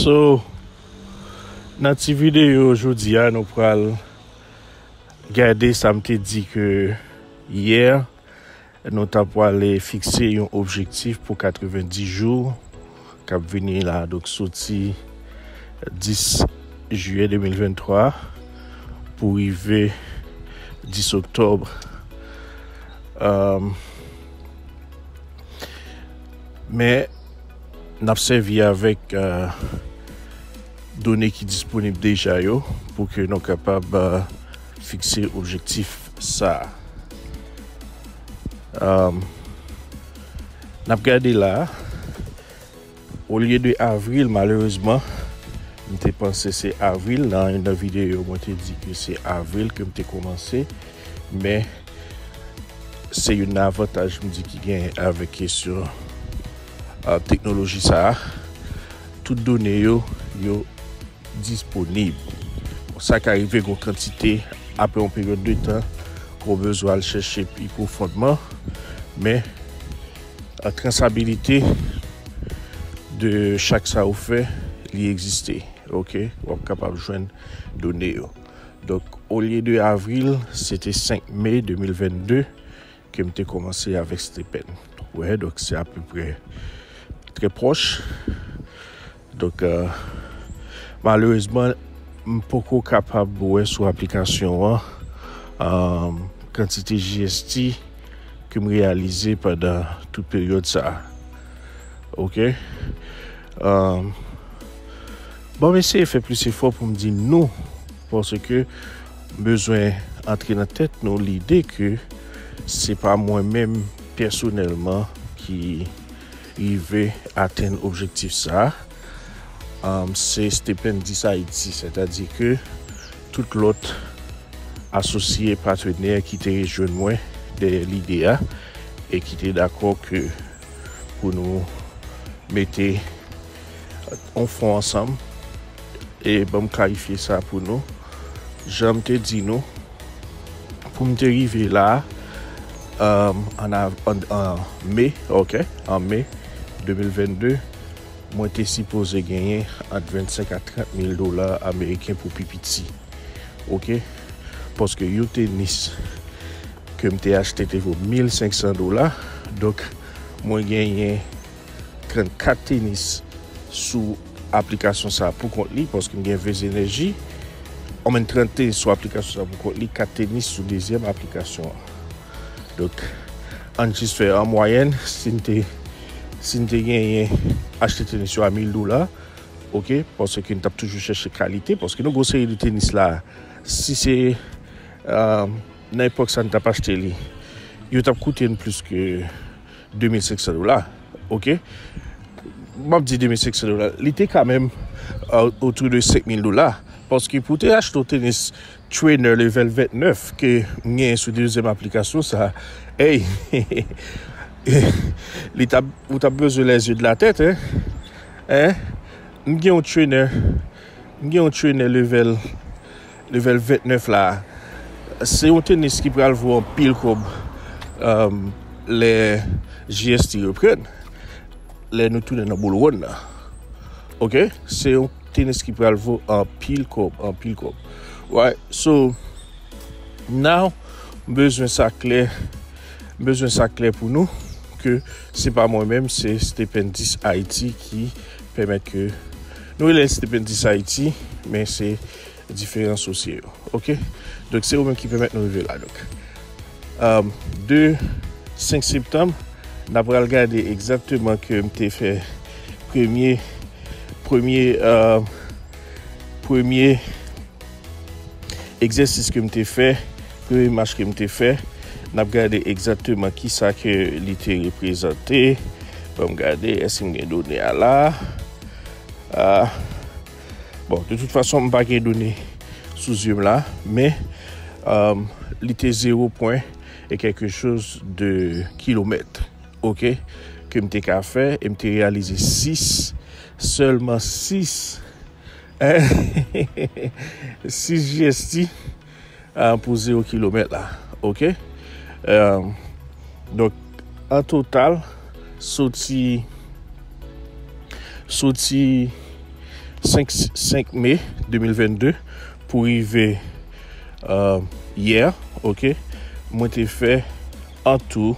So nan ti videyo jodi a nou pral gade sa m te di ke yè nou ta pwale fikse yon objektif pou 90 jou k ap vini la a, donk soti 10 jiyè 2023 pou rive 10 oktòb. Men, n ap sèvi avèk done ki disponib deja yo pou ke nou kapab fikse objektif sa a. Nap gade la a. Olye de avril malerezman m te panse se avril nan yon nan videyo mwen te di ke se avril ke m te komanse men se yon nan avantaj m di ki gen avèk kesyon teknoloji sa a tout done yo yo disponib. Bon sa ka rive gon kantite apre yon peryòd de tan ou bezwen al chèche pi pwofondman men trasabilite de chak sa ou fè li egziste ok wap kapab jwenn done yo donk olye de avril se te 5 mai 2022 Ke m te komanse avèk Stephen. Wè donk se apeprè trè pwòch. Donk malerezman m poko kapab wè sou aplikasyon an kantite GST ke m reyalize pandan tout peryòd sa. Ok bon m eseye fè plis efò pou m di nou Paske m bezwen antre nan tèt nou lide ke se pa mwen menm pèsonèlman ki rive atenn objektif sa a, se Stependis Ayiti, sètadi ke tout lòt asosye, patenè ki te rejwenn mwen dèyè lide a e ki te dakò ke pou nou mete. on fon ansanm e ban m klarifye sa pou nou. Jan m te di nou, pou m te rive la a, an me, ok, an me 2022, mwen te sipoze genyen ant 25 a 30 mil dola ameriken pou pi piti. Ok, paske yon tenis ke m te achte te vo 1500 dola, donk mwen genyen Trent kat tenis sou aplikasyon sa pou kont li paske m gen vez enèji an men trent tenis sou aplikasyon sa pou kont li kat tenis sou dezyèm aplikasyon an dok an jis fè an mwayèn si n te si n te genyen achte tenis yo a 1000 dola ok paske n t ap toujou chèche kalite paske nou gwo seri de tenis la si se nan epòk sa n t ap achte li yo t ap koute n plis ke 2500 dola ok map di 2500 dola li te ka menm autour de 5000 dola paske pou te achte tenis trainer level 29 ke m genyen sou dezyèm aplikasyon sa hey li tap ou tap bezwen les yeux de la tête hein m gen yon trainer m gen yon trainer level Level 29 la se yon tenis ki pral vo anpil kòb lè JST reprann, lè nou tounen nan boul wonn nan. Ok, se yon tenis ki pral vo anpil kòb, anpil kòb. Right, so now m bezwen sa klè, m bezwen sa klè pou nou ke se pa mwen menm, se Stependis Haiti ki pèmèt ke nou rele l Stependis Haiti men se diferan sosye yo ok donk se ou menm ki pèmèt nou rive la donk um, de 5 septanm n ap pral gade egzakteman ke m te fè premye premye um, premye egzèsis ke m te fè premye mach ke m te fè n ap gade egzakteman ki sa ke li te reprezante banm gade eske m gen done a la a ah, Bon, de tout fason, m pa gen done sou zye m la, men um, li te 0 pwen e kèlke choz de kilomèt, ok, ke m te ka fè, e m te reyalize 6, sèlman 6, 6 jesti, pou 0 kilomèt la ok donk an total soti soti 5 me 2022 pou rive yè ok mwen te fè an tou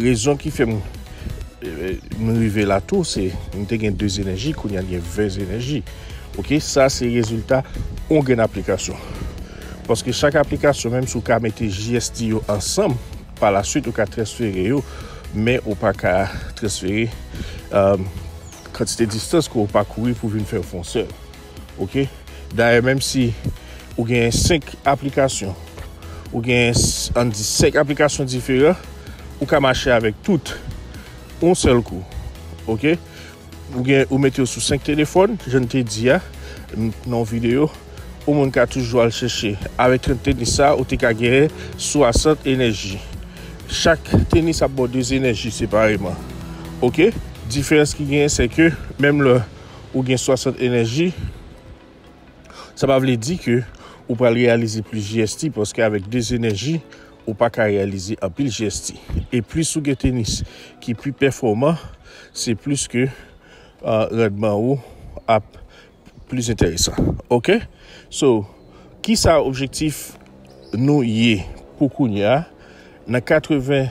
Rezon ki fè m rive la tou se m te gen 2 enèji kounye a m gen 20 enèji ok sa se rezilta yon grenn aplikasyon paske chak aplikasyon menm si w ka mete JST yo ansanm pa la swit ou ka transfere yo men ou pa ka transfere kantite distans ke w pakouri pou vin fè yon fon sèl. Ok dayè menm si ou gen 5 aplikasyon ou gen an di 5 aplikasyon diferan ou ka mache avèk tout on sèl kou ok ou gen ou mete yo sou 5 telefòn jan m te di a nan yon videyo ou moun ka toujou al chèche avèk 30 tenis sa ou te ka gen 60 enèji chak tenis ap ba w 2 enèji separeman ok diferans ki genyen se ke menm lè ou gen 60 enèji, sa pa vle di ke ou pral reyalize plis GST paske avèk 2 enèji ou pa ka reyalize anpil GST. E plis ou gen tenis ki pi pèfòman, se plis ke randman ou ap plis enteresan. Ok? So, ki sa objektif nou ye pou kounya nan 80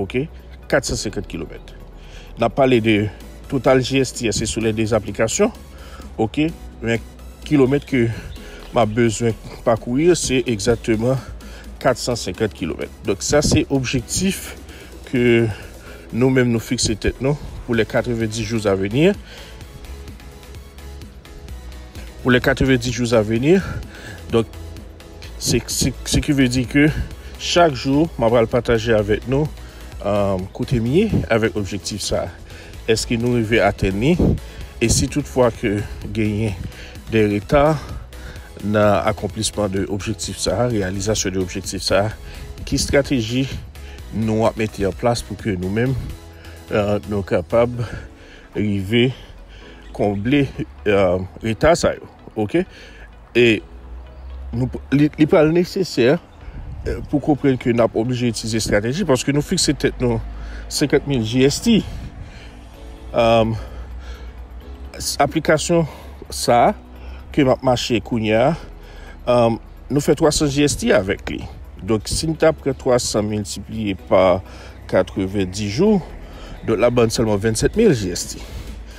Ok 450 kilomèt Nap pale de total GST a se sou lè 2 aplikasyon Ok men kilomèt ke map bezwen pakouri yo se egzakteman 450 kilomèt Donk sa se objektif ke nou menm nou fikse tèt nou pou lè 90 jours a veni Pou lè 90 jours a veni Donk Se ki vle di ke chak jou mwen pral pataje avèk nou kote m ye avèk objektif sa. Eske nou rive atenn li? E si tout fwa ke genyen de reta nan akonplisman de objektif sa, reyalizasyon de objektif sa, ki strateji nou ap mete an plas pou ke nou menm nou kapab rive konble reta sa yo? ok e li pral nesesè pou konprenn ke nap oblije itize estrateji paske nou fikse tèt nou 50.000 GST um, aplikasyon sa ke map mache kounya um, nou fè 300 GST avèk li donk si nou ta pran 300 miltipliye pa 90 jou donk la bann sèlman 27.000 GST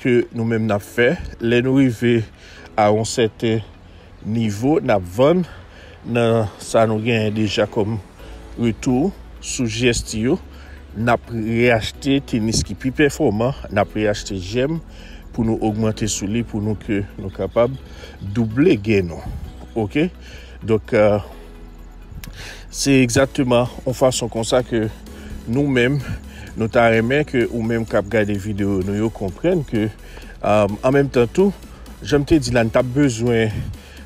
ke nou menm n ap fè, lè nou rive a yon sèten nivo, n ap vann nan sa nou genyen deja kòm retou sou GST yo, n ap reyachte tenis ki pi pèfòman, n ap reyachte jèm pou nou ogmante sou li pou nou ke nou kapab double gen nou. Ok? Donk. Se egzakteman yon fason konsa ke nou menm, nou ta renmen ke ou menm kap gade videyo nou yo konprenn ke um, an menm tan tou, janm te di la n tap bezwen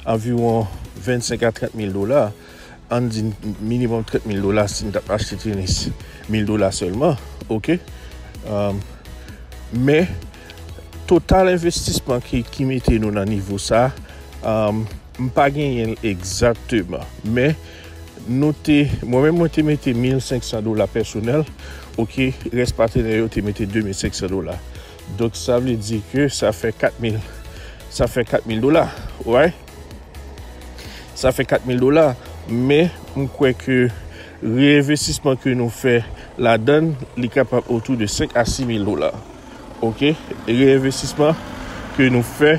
anviwon 25 a 30 mil dola, an di minimum 30 mil dola si n tap achte tenis, mil dola selman, ok, um, men total envestisman ki mete nou nan nivo sa, um, M pa genyen l egzakteman, men nou te, mwen menm mwen te mete 1500 dola pèsonèl, ok, rès patenè yo te mete 2500 dola. Donk sa vle di ke sa fè 4000, sa fè 4000 dola, right? Sa fè 4000 dola, men m kwè ke reenvestisman ke nou fè ladan l, li kapab otou de 5 a 6000 dola, ok, reenvestisman ke nou fè.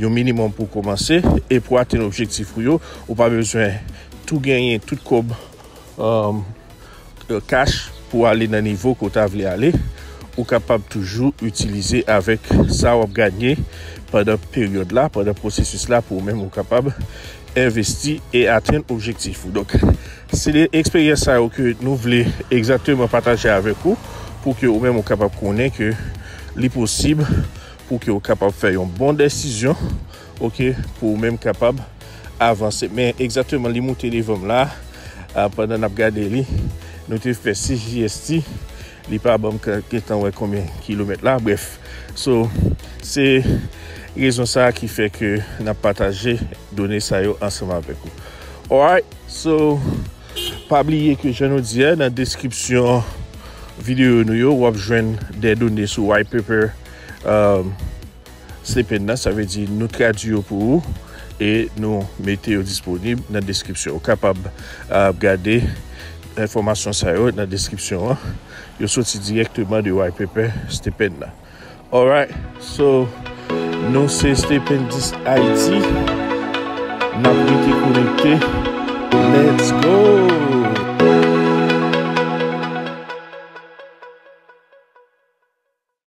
Yon minimòm pou w kòmanse e pou atenn objektif ou yo, ou pa bezwen tou genyen tout kòb kach pou ale nan nivo ke w ta vle ale. Ou kapab toujou itilize avèk sa w ap ganye pandan peryòd la, pandan pwosesis la pou ou menm ou kapab envesti e atenn objektif ou. Donk, se de eksperyans sa yo ke nou vle egzakteman pataje avèk ou pou ke ou menm ou kapab konnen ke li posib Pou ke ou kapab fè yon bon desizyon, ok, pou ou menm kapab avanse. Men, egzateman li moute devanm la, ah, pandan nap gade li, nou te fè 6 JST, li pa banm gentan wè konbyen kilomèt la, bref. So, se rezon sa ki fè ke nap pataje done sa yo ansanm avèk ou. Alright, so, pa bliye ke jan nou di a, nan deskripsyon videyo nou yo, wap jwenn de done sou White Paper, um, slipping nan, sa vle di nou tradwi yo pou ou e nou mete yo disponib nan deskripsyon. Ou kapab uh, gade enfòmasyon sa yo nan deskripsyon an. Yo soti direkteman de white paper stipend nan. Alright, so nou se Stipendist Haiti. Nap rete konekte. Let's go!